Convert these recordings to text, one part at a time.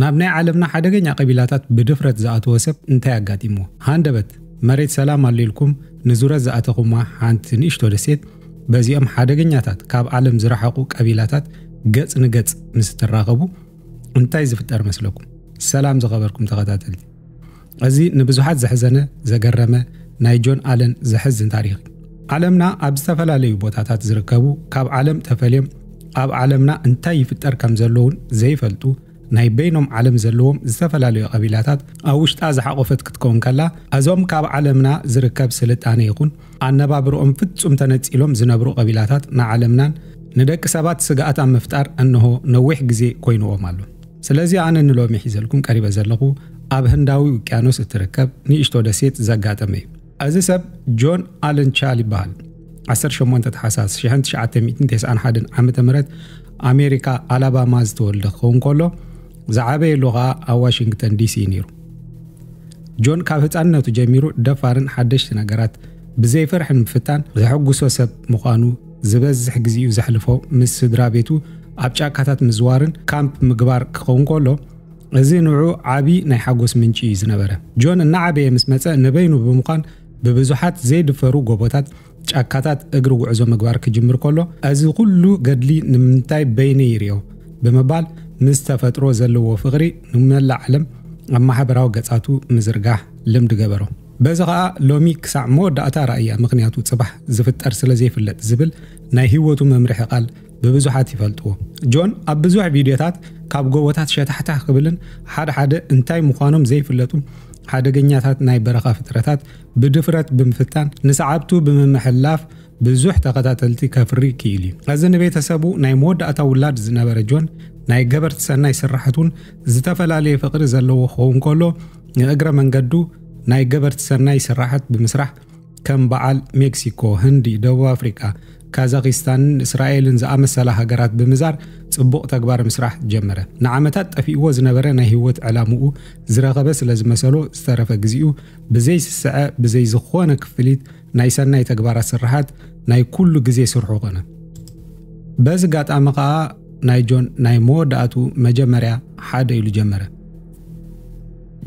ናብ ናይ ዓለምና ሓደገኛ ቀቢላታት ብድፍረት ዝኣተወ ሰብ እንታይ ኣጋጢምዎ? ሃንደበት መሬት ሰላም ኣሎ ኢልኩም ንዙረት ዝኣተኹማ ሓንቲ ንእሽቶ ደሴት በዚኦም ሓደገኛታት ካብ ዓለም ዝረሓቑ ቀቢላታት ገጽ ንገጽ ምስ እትራኸቡ እንታይ ዝፍጠር መስለኩም? ሰላም ዝኸበርኩም ተኸታተልቲ እዚ ንብዙሓት ዘሕዘነ ዘገረመ ናይ ጆን ኣለን ዘሕዝን ታሪኽ እዩ። ዓለምና ኣብ ዝተፈላለዩ ቦታታት ዝርከቡ ካብ ዓለም ተፈልዮም ኣብ ዓለምና እንታይ ይፍጠር ከም ዘለውን ዘይፈልጡ ናይ በይኖም ዓለም ዘለዎም ዝተፈላለዩ ቀቢላታት ኣብ ውሽጣ ዝሓቖፈት ክትከውን ከላ እዞም ካብ ዓለምና ዝርከብ ስልጣነ ይኹን ኣነባብርኦም ፍጹም ተነጺሎም ዝነብሩ ቀቢላታት ንዓለምናን ንደቂ ሰባት ስግኣት ኣብ ምፍጣር እንሆ ነዊሕ ግዜ ኮይንዎም ኣሎ። ስለዚ ኣነ ንሎሚ ሒዘልኩም ቀሪበ ዘለኹ ኣብ ህንዳዊ ውቅያኖስ እትርከብ ንእሽቶ ደሴት ዘጋጠመ እዩ። እዚ ሰብ ጆን ኣለን ቻል ይበሃል። 18 ተሓሳስ 1991 ዓመተ ምህረት ኣሜሪካ ኣላባማ ዝተወልደ ክኸውን ከሎ ዝዓበየሉ ኸኣ ኣብ ዋሽንግተን ዲሲ እዩ ነይሩ። ጆን ካብ ህፃንነቱ ጀሚሩ ደፋርን ሓደሽቲ ነገራት ብዘይ ፍርሒ ንምፍታን ዘሐጉሶ ሰብ ምዃኑ ዝበዝሕ ግዜኡ ዘሕልፎ ምስ ስድራ ቤቱ ኣብ ጫካታት ምዝዋርን ካምፕ ምግባር ክኸውን ከሎ እዚ ንዑ ዓቢ ናይ ሓጎስ ምንጪ እዩ ዝነበረ። ጆን እናዓበየ ምስ መጸ ንበይኑ ብምዃን ብብዙሓት ዘይድፈሩ ጎቦታት፣ ጫካታት እግሪ ጉዕዞ ምግባር ክጅምር ከሎ እዚ ኩሉ ገድሊ ንምንታይ በይነይ ይሪኦ ብምባል ምስ ተፈጥሮ ዘለዎ ፍቕሪ ንመላእ ዓለም ኣብ ማሕበራዊ ገጻቱ ምዝርጋሕ ልምዲ ገበሮ። በዚ ኸኣ ሎሚ ክሳዕ መወዳእታ ራእያ ምኽንያቱ ጽባሕ ዝፍጠር ስለ ዘይፍለጥ ዝብል ናይ ህይወቱ መምርሒ ቃል ብብዙሓት ይፈልጥዎ። ጆን ኣብ ብዙሕ ቪድዮታት ካብ ጎቦታት ሸታሕታሕ ክብልን ሓደ ሓደ እንታይ ምዃኖም ዘይፍለጡ ሓደገኛታት ናይ በረኻ ፍጥረታት ብድፍረት ብምፍታን ንሰዓብቱ ብምምሕልላፍ ብዙሕ ተኸታተልቲ ከፍሪ ክኢሉ እዩ። እዚ ንቤተሰቡ ናይ መወዳእታ ውላድ ዝነበረ ጆን ናይ ገበርቲ ሰናይ ስርሓቱን ዝተፈላለየ ፍቕሪ ዘለዎ ክኸውን ከሎ ንእግረ መንገዱ ናይ ገበርቲ ሰናይ ስራሓት ብምስራሕ ከም በዓል ሜክሲኮ፣ ህንዲ፣ ደቡብ ኣፍሪቃ፣ ካዛኪስታንን እስራኤልን ዝኣመሰላ ሃገራት ብምዛር ጽቡቕ ተግባር ምስራሕ ጀመረ። ንዓመታት ጠፊእዎ ዝነበረ ናይ ህይወት ዕላምኡ ዝረኸበ ስለ ዝመሰሎ ዝተረፈ ግዜኡ ብዘይ ስስዐ ብዘይ ዝኾነ ክፍሊት ናይ ሰናይ ተግባራት ስርሓት ናይ ኩሉ ግዜ ስርሑ ኮነ። በዚ ጋጣሚ ከኣ ናይ ጆን ናይ መወዳእቱ መጀመርያ ሓደ ኢሉ ጀመረ።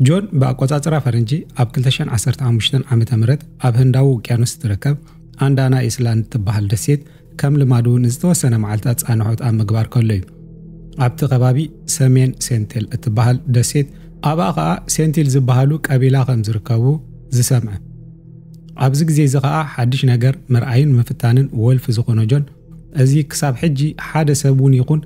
ጆን ብኣቆጻጽራ ፈረንጂ ኣብ 2015 ዓ ም ኣብ ህንዳዊ ውቅያኖስ እትርከብ ኣንዳና ኢስላንድ እትበሃል ደሴት ከም ልማዱ ንዝተወሰነ መዓልትታት ጻንሖት ኣብ ምግባር ከሎ እዩ ኣብቲ ከባቢ ሰሜን ሴንቴል እትበሃል ደሴት ኣብኣ ኸኣ ሴንቲል ዝበሃሉ ቀቢላ ከም ዝርከቡ ዝሰምዐ ኣብዚ ግዜ እዚ ኸኣ ሓድሽ ነገር ምርኣይን ምፍታንን ወልፊ ዝኾኖ ጆን እዚ ክሳብ ሕጂ ሓደ ሰብ እውን ይኹን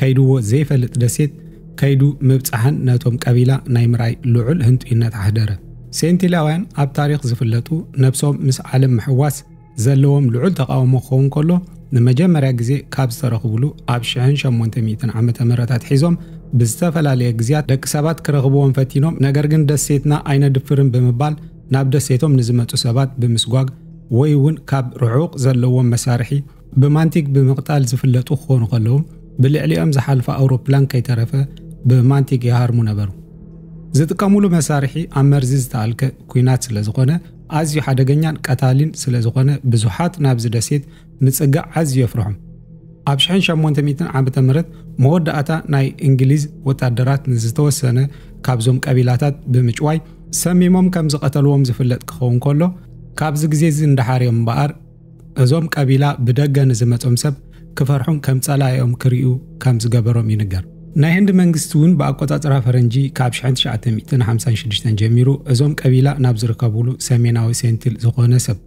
ከይድዎ ዘይፈልጥ ደሴት ከይዱ ምብጻሕን ነቶም ቀቢላ ናይ ምርኣይ ልዑል ህንጡይነት ኣሕደረ። ሴንቲላውያን ኣብ ታሪኽ ዝፍለጡ ነብሶም ምስ ዓለም ምሕዋስ ዘለዎም ልዑል ተቓውሞ ክኸውን ከሎ ንመጀመርያ ግዜ ካብ ዝተረኽብሉ ኣብ ሽሕን ሸሞንተ ሚእትን ዓመተ ምህረት ኣትሒዞም ብዝተፈላለየ ግዝያት ደቂ ሰባት ክረኽብዎም ፈቲኖም ነገር ግን ደሴትና ኣይነድፍርን ብምባል ናብ ደሴቶም ንዝመጹ ሰባት ብምስጓግ ወይ እውን ካብ ርሑቕ ዘለዎም መሳርሒ ብማንቲግ ብምቕጣል ዝፍለጡ ክኾኑ ከለዉ ብልዕሊኦም ዝሓልፋ ኣውሮፕላን ከይተረፈ ብማንቲግ ይሃርሙ ነበሩ። ዝጥቀሙሉ መሳርሒ ኣብ መርዚ ዝተኣልከ ኲናት ስለዝኾነ ኣዝዩ ሓደገኛን ቀታሊን ስለዝኾነ ብዙሓት ናብዚ ደሴት ንጽግዕ ኣዝዩ የፍርሖም። ኣብ ሽሕን ሸሞንተ ሚእትን ዓመተ ምህረት መወዳእታ ናይ እንግሊዝ ወታደራት ንዝተወሰነ ካብዞም ቀቢላታት ብምጭዋይ ሰሚሞም ከም ዝቐተልዎም ዝፍለጥ ክኸውን ከሎ ካብዚ ግዜ እዚ እንዳሓር እዮም እምበኣር እዞም ቀቢላ ብደገ ንዝመጾም ሰብ ክፈርሑን ከም ጸላኢኦም ክሪኡ ከም ዝገበሮም ይንገር። ናይ ህንዲ መንግስቲ እውን ብኣቆጻጽራ ፈረንጂ ካብ 1956 ጀሚሩ እዞም ቀቢላ ናብ ዝርከብሉ ሰሜናዊ ሴንቲል ዝኾነ ሰብ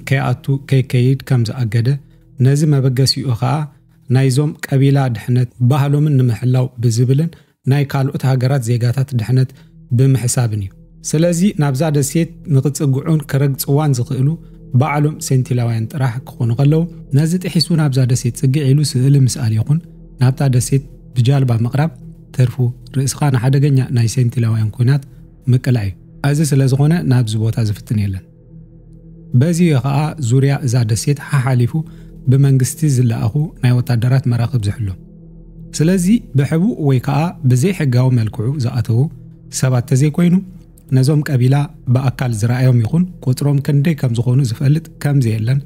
ከይኣቱ ከይከይድ ከም ዝኣገደ፣ ነዚ መበገሲኡ ከኣ ናይዞም ቀቢላ ድሕነት ባህሎምን ንምሕላው ብዝብልን ናይ ካልኦት ሃገራት ዜጋታት ድሕነት ብምሕሳብን እዩ። ስለዚ ናብዛ ደሴት ንክጽግዑን ክረግጽዋን ዝኽእሉ ባዕሎም ሴንቲላውያን ጥራሕ ክኾኑ ከለዉ፣ ነዚ ጥሒሱ ናብዛ ደሴት ጽግዕ ኢሉ ስእሊ ምስኣል ይኹን ናብታ ደሴት ብጃልባ ምቕራብ ትርፉ ርእስኻ ንሓደገኛ ናይ ሴንቲላውያን ኲናት ምቅላዕ እዩ። እዚ ስለዝኾነ ናብዚ ቦታ ዝፍትን የለን። በዚ እዩ ኸኣ ዙርያ እዛ ደሴት ሓሓሊፉ ብመንግስቲ ዝለኣኹ ናይ ወታደራት መራኽብ ዝሕሎ። ስለዚ ብሕቡእ ወይ ከኣ ብዘይሕጋዊ መልክዑ ዝኣተዉ ሰባት ተዘይኮይኑ ነዞም ቀቢላ ብኣካል ዝረኣዮም ይኹን ቁጽሮም ክንደይ ከም ዝኾኑ ዝፈልጥ ከም ዘየለን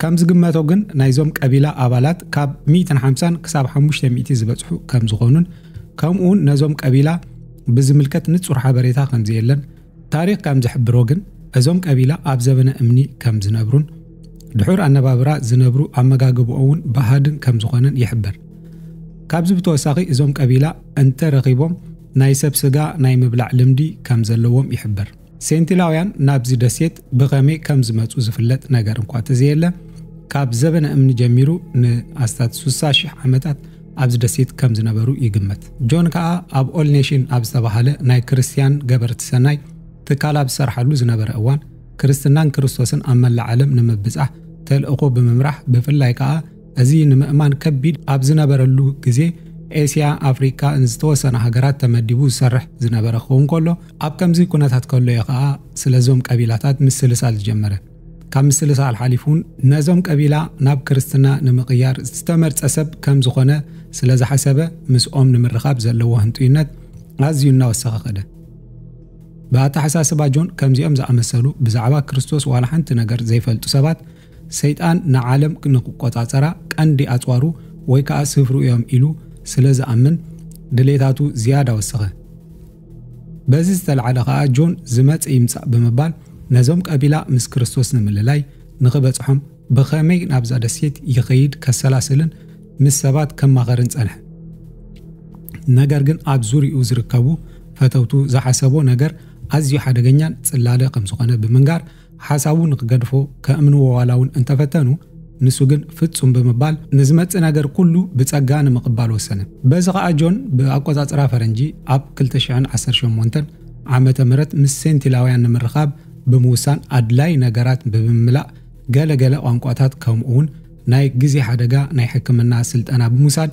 ከም ዝግመቶ ግን ናይዞም ቀቢላ ኣባላት ካብ 150 ክሳብ 500 ዝበጽሑ ከም ዝኾኑን ከምኡውን ነዞም ቀቢላ ብዝምልከት ንጹር ሓበሬታ ከም ዘየለን ታሪኽ ከም ዝሕብሮ ግን እዞም ቀቢላ ኣብ ዘበነ እምኒ ከም ዝነብሩን ድሑር ኣነባብራ ዝነብሩ ኣመጋግብኦውን ባህድን ከም ዝኾነን ይሕበር። ካብዚ ብተወሳኺ እዞም ቀቢላ እንተ ረኺቦም ናይ ሰብ ስጋ ናይ ምብላዕ ልምዲ ከም ዘለዎም ይሕበር። ሴንቲላውያን ናብዚ ደሴት ብኸመይ ከም ዝመጹ ዝፍለጥ ነገር እንኳ ተዘየለ ካብ ዘበነ እምኒ ጀሚሩ ንኣስታት ሱሳ ሽሕ ዓመታት ኣብዚ ደሴት ከም ዝነበሩ ይግመት። ጆን ከኣ ኣብ ኦል ኔሽን ኣብ ዝተባህለ ናይ ክርስትያን ገበርቲ ሰናይ ትካል ኣብ ዝሰርሓሉ ዝነበረ እዋን ክርስትናን ክርስቶስን ኣብ መላእ ዓለም ንምብጻሕ ተልእኾ ብምምራሕ ብፍላይ ከኣ እዚ ንምእማን ከቢድ ኣብ ዝነበረሉ ግዜ ኤስያ ኣፍሪካ ንዝተወሰነ ሃገራት ተመዲቡ ዝሰርሕ ዝነበረ ክኸውን ከሎ ኣብ ከምዚ ኩነታት ከሎ እዩ ከዓ ስለዞም ቀቢላታት ምስልሳል ዝጀመረ ካብ ምስልሳል ሓሊፉ እውን ነዞም ቀቢላ ናብ ክርስትና ንምቕያር ዝተመርጸ ሰብ ከም ዝኾነ ስለ ዝሓሰበ ምስኦም ንምርኻብ ዘለዎ ህንጡይነት ኣዝዩ እናወሰኸ ኸደ። ብኣተሓሳስባ ጆን ከምዚኦም ዝኣመሰሉ ብዛዕባ ክርስቶስ ዋላ ሓንቲ ነገር ዘይፈልጡ ሰባት ሰይጣን ንዓለም ንክቆጻጸራ ቀንዲ ኣጽዋሩ ወይ ከዓ ስፍሩ እዮም ኢሉ ስለ ዝኣምን ድሌታቱ ዝያዳ ወሰኸ። በዚ ዝተላዕለ ከኣ ጆን ዝመጽእ ይምጻእ ብምባል ነዞም ቀቢላ ምስ ክርስቶስ ንምልላይ ንኽበጽሖም ብኸመይ ናብዛ ደሴት ይኸይድ ከሰላስልን ምስ ሰባት ከማኸርን ጸንሐ። ነገር ግን ኣብ ዙሪኡ ዝርከቡ ፈተውቱ ዝሓሰቦ ነገር ኣዝዩ ሓደገኛን ጽላለ ከም ዝኾነ ብምንጋር ሓሳቡ ንክገድፎ ከእምንዎ ዋላ እውን እንተፈተኑ፣ ንሱ ግን ፍጹም ብምባል ንዝመጽእ ነገር ኩሉ ብጸጋ ንምቕባል ወሰነ። በዚ ከኣ ጆን ብኣቆጻጽራ ፈረንጂ ኣብ ክልተ ሽሕን ዓሰርተ ሸሞንተን ዓመተ ምህረት ምስ ሴንቲላውያን ንምርኻብ ብምውሳን ኣድላዪ ነገራት ብምምላእ ገለ ገለ ቋንቋታት ከምኡውን ናይ ግዜ ሓደጋ ናይ ሕክምና ስልጠና ብምውሳድ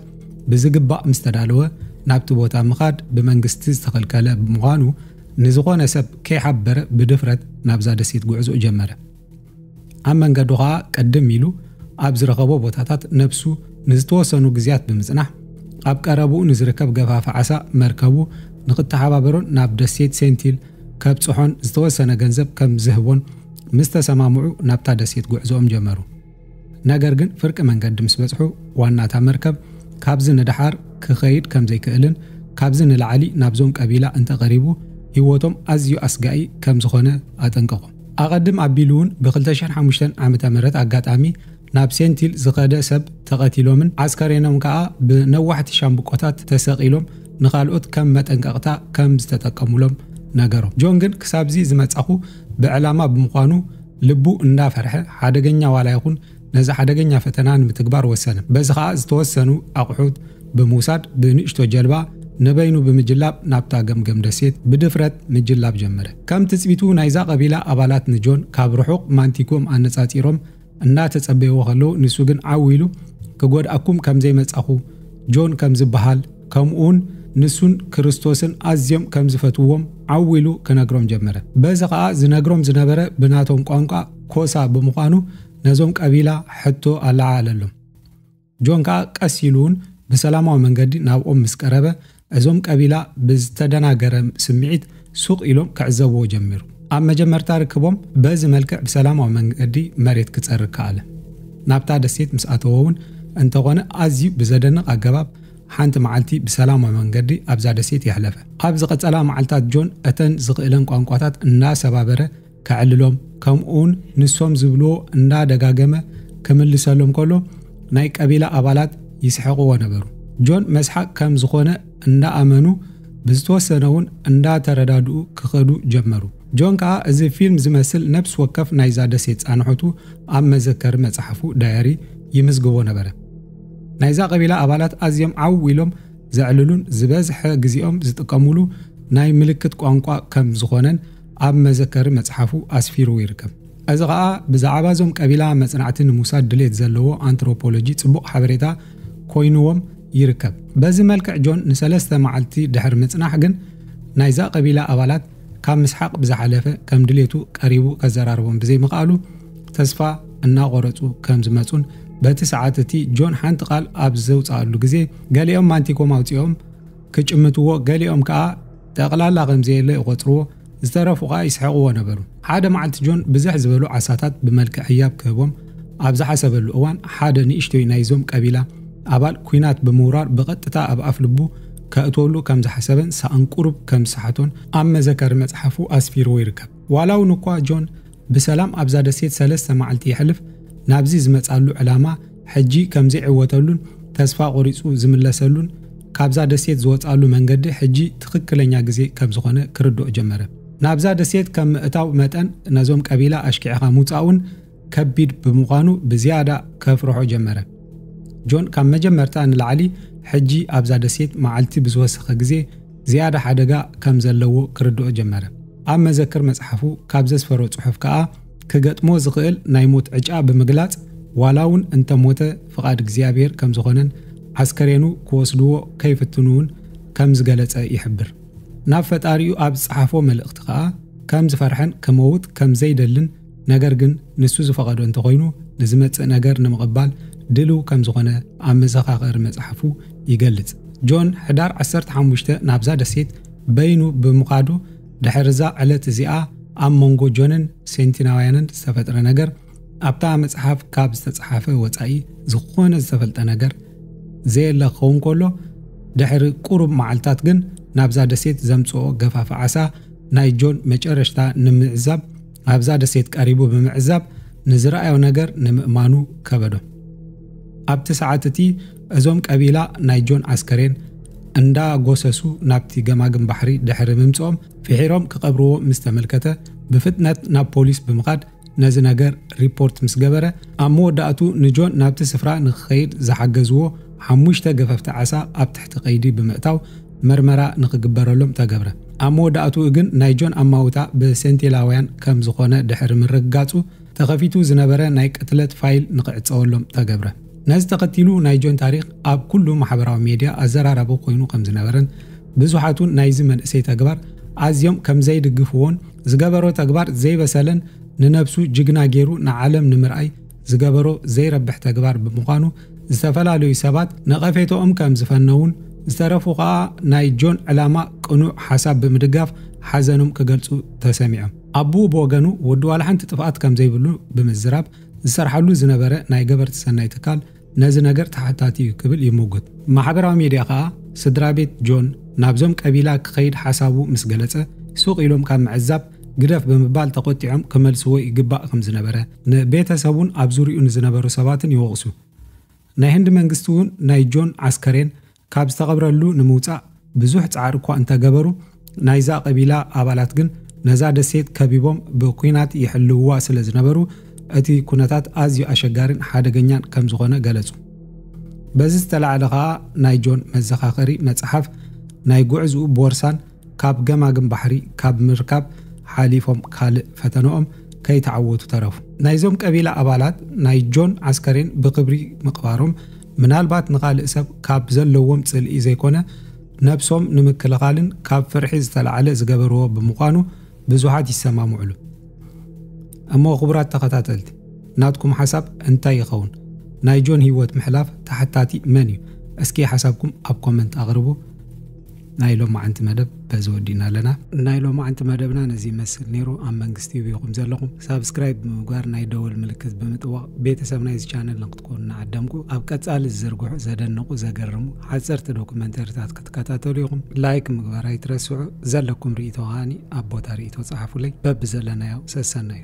ብዝግባእ ምስተዳለወ ናብቲ ቦታ ምኻድ ብመንግስቲ ዝተኸልከለ ብምዃኑ ንዝኾነ ሰብ ከይሓበረ ብድፍረት ናብዛ ደሴት ጉዕዞኡ ጀመረ። ኣብ መንገዱ ኸኣ ቅድም ኢሉ ኣብ ዝረኸቦ ቦታታት ነብሱ ንዝተወሰኑ ግዝያት ብምጽናሕ፣ ኣብ ቀረባኡ ንዝርከብ ገፋፊ ዓሳ መርከቡ ንኽተሓባበሮን ናብ ደሴት ሴንቲል ከብጽሖን ዝተወሰነ ገንዘብ ከም ዝህቦን ምስ ተሰማምዑ ናብታ ደሴት ጉዕዞኦም ጀመሩ። ነገር ግን ፍርቂ መንገዲ ምስ በጽሑ ዋና እታ መርከብ ካብዚ ንደሓር ክኸይድ ከም ዘይክእልን ካብዚ ንላዕሊ ናብዞም ቀቢላ እንተ ቀሪቡ ህይወቶም ኣዝዩ ኣስጋኢ ከም ዝኾነ ኣጠንቀቑ። ኣቐድም ኣቢሉውን ብ ክልተ ሽሕን ሓሙሽተን ዓመተ ምህረት ኣጋጣሚ ናብ ሴንቲል ዝኸደ ሰብ ተቐቲሎምን ዓስከሬኖም ከኣ ብነዋሕቲ ሻምብቆታት ተሰቒሎም ንኻልኦት ከም መጠንቀቕታ ከም ዝተጠቀሙሎም ነገሮም። ጆን ግን ክሳብዚ ዝመጻኹ ብዕላማ ብምዃኑ ልቡ እንዳ ፈርሐ ሓደገኛ ዋላ ይኹን ነዚ ሓደገኛ ፈተና ንምትግባር ወሰነ። በዚ ከኣ ዝተወሰኑ ኣቑሑት ብምውሳድ ብንእሽቶ ጀልባ ነበይኑ ብምጅላብ ናብታ ገምገም ደሴት ብድፍረት ምጅላብ ጀመረ። ከም ትጽቢቱ ናይዛ ቀቢላ ኣባላት ንጆን ካብ ርሑቕ ማንቲጉኦም ኣነጻጺሮም እንዳ ተጸበይዎ ከለዉ ንሱ ግን ዓው ኢሉ ክጎድኣኩም ከም ዘይመጻኹ ጆን ከም ዝበሃል ከምኡውን ንሱን ክርስቶስን ኣዝዮም ከም ዝፈትውዎም ዓው ኢሉ ክነግሮም ጀመረ። በዚ ኸኣ ዝነግሮም ዝነበረ ብናቶም ቋንቋ ኮሳ ብምዃኑ ነዞም ቀቢላ ሕቶ ኣለዓዓለሎም። ጆን ከኣ ቀስ ኢሉ እውን ብሰላማዊ መንገዲ ናብኦም ምስ ቀረበ እዞም ቀቢላ ብዝተደናገረ ስምዒት ሱቕ ኢሎም ክዕዘብዎ ጀሚሩ። ኣብ መጀመርታ ርክቦም በዚ መልክዕ ብሰላማዊ መንገዲ መሬት ክጸርግ ከኣለ። ናብታ ደሴት ምስ ኣተወ እውን እንተኾነ ኣዝዩ ብዘደንቕ ኣገባብ ሓንቲ መዓልቲ ብሰላማዊ መንገዲ ኣብዛ ደሴት የሕለፈ። ኣብ ዝቐጸላ መዓልታት ጆን እተን ዝኽእለን ቋንቋታት እናሰባበረ ከዕልሎም ከምኡውን ንሶም ዝብልዎ እናደጋገመ ክምልሰሎም ከሎ ናይ ቀቢላ ኣባላት ይስሕቕዎ ነበሩ። ጆን መስሓቅ ከም ዝኾነ እንዳኣመኑ ብዝተወሰነ እውን እንዳተረዳድኡ ክኸዱ ጀመሩ። ጆን ከኣ እዚ ፊልም ዝመስል ነብሲ ወከፍ ናይዛ ደሴት ጻንሖቱ ኣብ መዘከሪ መጽሓፉ፣ ዳያሪ፣ ይምዝግቦ ነበረ። ናይዛ ቀቢላ ኣባላት ኣዝዮም ዓው ኢሎም ዘዕልሉን ዝበዝሐ ግዜኦም ዝጥቀሙሉ ናይ ምልክት ቋንቋ ከም ዝኾነን ኣብ መዘከሪ መጽሓፉ ኣስፊሩ ይርከብ። እዚ ኸኣ ብዛዕባ እዞም ቀቢላ መጽናዕቲ ንምውሳድ ድሌት ዘለዎ ኣንትሮፖሎጂ ጽቡቕ ሓበሬታ ኮይኑዎም ይርከብ። በዚ መልክዕ ጆን ንሰለስተ መዓልቲ ድሕሪ ምጽናሕ ግን ናይዛ ቀቢላ ኣባላት ካብ ምስሓቕ ብዝሓለፈ ከም ድሌቱ ቀሪቡ ከዘራርቦም ብዘይምኽኣሉ ተስፋ እናቖረጹ ከም ዝመጹን በቲ ሰዓት እቲ ጆን ሓንቲ ቃል ኣብ ዘውጽኣሉ ግዜ ገሊኦም ማንቲኮም ኣውጺኦም ክጭምትዎ ገሊኦም ከኣ ጠቕላላ ከም ዘየለ ይቖጽርዎ ዝተረፉ ኸኣ ይስሕቕዎ ነበሩ ሓደ መዓልቲ ጆን ብዝሕ ዝበሉ ዓሳታት ብመልክዕ ህያብ ክህቦም ኣብ ዝሓሰበሉ እዋን ሓደ ንእሽቶይ ናይዞም ቀቢላ ኣባል ኩናት ብምውራር ብቐጥታ ኣብ ኣፍ ልቡ ከእትወሉ ከም ዝሓሰበን ሳኣን ቁሩብ ከም ዝሰሓቶን ኣብ መዘከሪ መጽሓፉ ኣስፊርዎ ይርከብ። ዋላውን እኳ ጆን ብሰላም ኣብዛ ደሴት ሰለስተ መዓልቲ የሕልፍ፣ ናብዚ ዝመጻሉ ዕላማ ሕጂ ከም ዘይዕወተሉን ተስፋ ቆሪጹ ዝምለሰሉን ካብዛ ደሴት ዝወጻሉ መንገዲ ሕጂ ትኽክለኛ ግዜ ከም ዝኾነ ክርድኦ ጀመረ። ናብዛ ደሴት ከም ምእታው መጠን ነዞም ቀቢላ ኣሽኪዕኻ ምውጻኡን ከቢድ ብምዃኑ ብዝያዳ ከፍርሖ ጀመረ። ጆን ካብ መጀመርታ ንላዕሊ ሕጂ ኣብዛ ደሴት መዓልቲ ብዝወሰኸ ግዜ ዝያዳ ሓደጋ ከም ዘለዎ ክርድኦ ጀመረ። ኣብ መዘክር መጽሓፉ ካብ ዘስፈሮ ጽሑፍ ከኣ ክገጥሞ ዝኽእል ናይ ሞት ዕጫ ብምግላጽ ዋላ እውን እንተ ሞተ ፍቓድ እግዚኣብሔር ከም ዝኾነን ዓስከሬኑ ክወስድዎ ከይፍትኑ እውን ከም ዝገለጸ ይሕብር። ናብ ፈጣሪኡ ኣብ ዝጸሓፎ መልእኽቲ ከኣ ከም ዝፈርሐን ክመውት ከም ዘይደልን ነገር ግን ንሱ ዝፈቐዶ እንተኾይኑ ንዝመጽእ ነገር ንምቕባል ድልው ከም ዝኾነ ኣብ መዘኻኸሪ መጽሓፉ ይገልጽ። ጆን ሕዳር ዓሰርተ ሓሙሽተ ናብዛ ደሴት በይኑ ብምኻዱ ድሕርዛ ዕለት እዚኣ ኣብ መንጎ ጆንን ሴንቲናውያንን ዝተፈጥረ ነገር ኣብታ መጽሓፍ ካብ ዝተጽሓፈ ወጻኢ ዝኾነ ዝተፈልጠ ነገር ዘየለ ክኸውን ከሎ ድሕሪ ቁሩብ መዓልታት ግን ናብዛ ደሴት ዘምጽኦ ገፋፊ ዓሳ ናይ ጆን መጨረሽታ ንምዕዛብ ኣብዛ ደሴት ቀሪቡ ብምዕዛብ ንዝረኣዮ ነገር ንምእማኑ ከበዶ። ኣብቲ ሰዓት እቲ እዞም ቀቢላ ናይ ጆን ኣስከሬን እንዳ ጎሰሱ ናብቲ ገማግም ባሕሪ ድሕሪ ምምጽኦም ፍሒሮም ክቐብርዎ ምስ ተመልከተ ብፍጥነት ናብ ፖሊስ ብምኻድ ነዚ ነገር ሪፖርት ምስ ገበረ ኣብ መወዳእቱ ንጆን ናብቲ ስፍራ ንክኸይድ ዝሓገዝዎ ሓሙሽተ ገፈፍቲ ዓሳ ኣብ ትሕቲ ቀይዲ ብምእታው መርመራ ንክግበረሉም ተገብረ። ኣብ መወዳእትኡ ግን ናይ ጆን ኣማውታ ብሴንቲላውያን ከም ዝኾነ ድሕሪ ምርግጋጹ ተኸፊቱ ዝነበረ ናይ ቅትለት ፋይል ንክዕጸወሎም ተገብረ። ነዚ ተኸቲሉ ናይ ጆን ታሪኽ ኣብ ኩሉ ማሕበራዊ ሜድያ ኣዘራራቢ ኮይኑ ከም ዝነበረን ብዙሓትውን ናይዚ መንእሰይ ተግባር ኣዝዮም ከም ዘይድግፍዎን ዝገበሮ ተግባር ዘይበሰለን ንነብሱ ጅግና ጌሩ ንዓለም ንምርኣይ ዝገበሮ ዘይረብሕ ተግባር ብምዃኑ ዝተፈላለዩ ሰባት ነቐፌትኦም ከም ዝፈነዉን ዝተረፉ ከኣ ናይ ጆን ዕላማ ቅኑዕ ሓሳብ ብምድጋፍ ሓዘኖም ክገልጹ ተሰሚዖም። ኣቡኡ ብወገኑ ወዱ ዋላ ሓንቲ ጥፍኣት ከም ዘይብሉ ብምዝራብ ዝሰርሓሉ ዝነበረ ናይ ገበርቲ ሰናይ ትካል ነዚ ነገር ተሓታቲ እዩ ክብል ይሙግት። ማሕበራዊ ሚድያ ከኣ ስድራቤት ጆን ናብዞም ቀቢላ ክኸይድ ሓሳቡ ምስ ገለጸ ሱቕ ኢሎም ካብ ምዕዛብ ግደፍ ብምባል ተቖጢዖም ክመልስዎ ይግባእ ከም ዝነበረ ንቤተሰቡን ኣብ ዙርይኡ ንዝነበሩ ሰባትን ይወቕሱ። ናይ ህንዲ መንግስቲ እውን ናይ ጆን ዓስከሬን ካብ ዝተቐብረሉ ንምውጻእ ብዙሕ ጻዕሪ እኳ እንተገበሩ፣ ናይዛ ቀቢላ ኣባላት ግን ነዛ ደሴት ከቢቦም ብኲናት ይሕልውዋ ስለ ዝነበሩ እቲ ኩነታት ኣዝዩ ኣሸጋሪን ሓደገኛን ከም ዝኾነ ገለጹ። በዚ ዝተላዕለ ከኣ ናይ ጆን መዘኻኸሪ መጽሓፍ፣ ናይ ጉዕዝኡ ቦርሳን ካብ ገማግም ባሕሪ ካብ ምርካብ ሓሊፎም ካልእ ፈተነኦም ከይተዓወቱ ተረፉ። ናይዞም ቀቢላ ኣባላት ናይ ጆን ኣስከሬን ብኽብሪ ምቕባሮም ምናልባት ንኻልእ ሰብ ካብ ዘለዎም ጽልኢ ዘይኮነ ነብሶም ንምክልኻልን ካብ ፍርሒ ዝተላዕለ ዝገበርዎ ብምዃኑ ብዙሓት ይሰማምዕሉ። እሞ ክቡራት ተኸታተልቲ ናትኩም ሓሳብ እንታይ ይኸውን? ናይ ጆን ህይወት ምሕላፍ ተሓታቲ መን እዩ? እስኪ ሓሳብኩም ኣብ ኮመንት ኣቕርቡ። ናይ ሎማዓንቲ መደብ በዚ ወዲእና ኣለና። ናይ ሎማዓንቲ መደብና ነዚ ይመስል ነይሩ። ኣብ መንግስቲ ዩብ ኢኹም ዘለኹም። ሳብስክራይብ ብምግባር ናይ ደወል ምልክት ብምጥዋቕ ቤተሰብ ናይዚ ቻነል ንክትኮኑ ንዓደምቁ። ኣብ ቀጻሊ ዝዝርግሑ ዘደንቑ ዘገርሙ ሓጸርቲ ዶኩመንተሪታት ክትከታተሉ ኢኹም። ላይክ ምግባር ኣይትረስዑ። ዘለኩም ሪኢቶ ከኣ ኣብ ቦታ ሪኢቶ ጸሓፉለይ። በብዘለናዮ ሰሰናዩ።